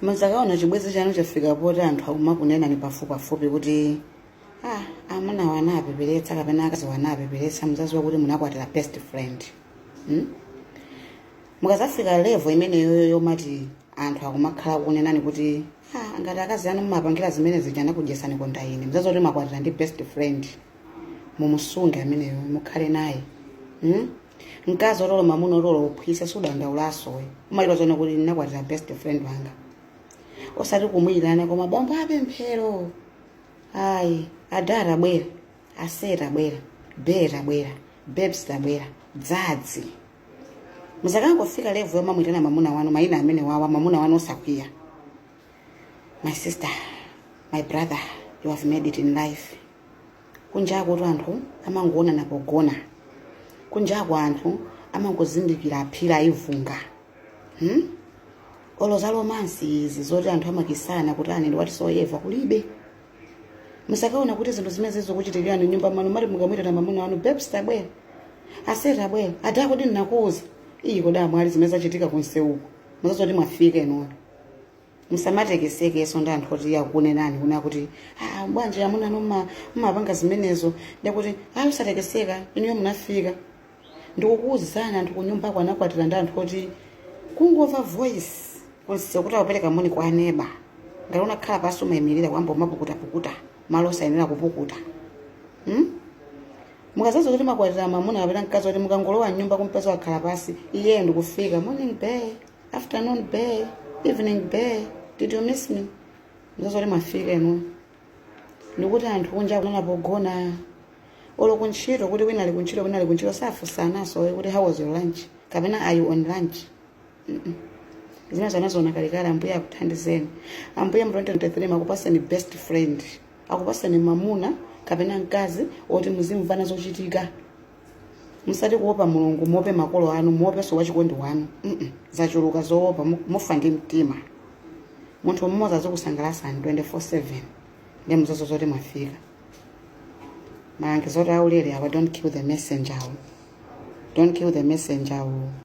muzakaona chibwenzi chanu chafika poti anthu akumakunenani pafupipafupi kuti ah, amuna awa anapeperetsa kapena akazi awa anapeperetsa muzaziwa kuti munakwatira best friend hmm? mukazafika level imeneyoyo yomati anthu akumakhala kunenani kuti ah, ngati akazi anu mumapangira zimene zija anakudyetsani konda ine muzaziwa kuti mwakwatira ndi best friend mumusunge ameneyo mukhale naye hmm? mkazi oti olo mamuna oti olo uphwisa sudandaulaso iwe umaziwa zoona kuti ndinakwatira best friend wanga osati kumayitana koma bambo apemphero ayi ada tabwera ase tabwera bae tabwera babes tabwera dzadzi muzakangofika level yomamuyitana mamuna wanu mayina amenewawa mamuna wanu osakwiya my sister my brother you have made it in life kunjakutu anthu amangoonana pogona kunjaku anthu amangozindikira aphira ivunga hmm? olo za romance izi zoti anthu amakisana kuti aaa nde nowadays kulibe muzakaona kuti zinthu zimene zizikuchitikirani mnyumba mwanu moti mukamwitana mamuna wanu babes tabwera ase tabwera ati akuti ndinakuuza iyi kodi amwali zimene zachitika kunseuko muzaziwa zoti mwafika inuyo musamatekesekenso ndi anthu oti akunenani kuna kuti ah, bwanji amuna anu mumapanga zimenezo ndikuti ayi usatekeseka inuyo munafika ndikukuuzani anthu kunyumbako anakwatira ndi anthu oti kungomva voice kunseu kuti akupereka moni kwa aneba ngati unakhala pasi umayimirira kuyamba umapukutapukuta malo osayenera kupukuta hmm? mukazaziwa kuti mwakwatira mamuna kapena mkazi oti mukangolowa mnyumba kumpeza wakhala pasi iye ndikufika morning bae afternoon bae evening bae did you miss me muzaziwa zoti mwafika inu ndikuti anthu kunjaku amaonana pogona olo kuntchito kuti wina ali kuntchito wina ali kuntchito safunsanaso kuti how was your lunch kapena are you on lunch Mm-mm. zimenezo anaziona kalekale ambuye akuthandizeni ambuye mu 2023 akupaseni best friend akupaseni mamuna kapena mkazi oti muzimvana zochitika osati kuopa mulungu muope makolo anu muopenso wachikondi wanu mm zachuluka zoopa mu- mufa ndi mtima munthu mmodzi azikusangalasani 24/7 ndi muziwa zoti mwafika malangizo oti aulere awa don't kill the messenger awo don't kill the messenger awo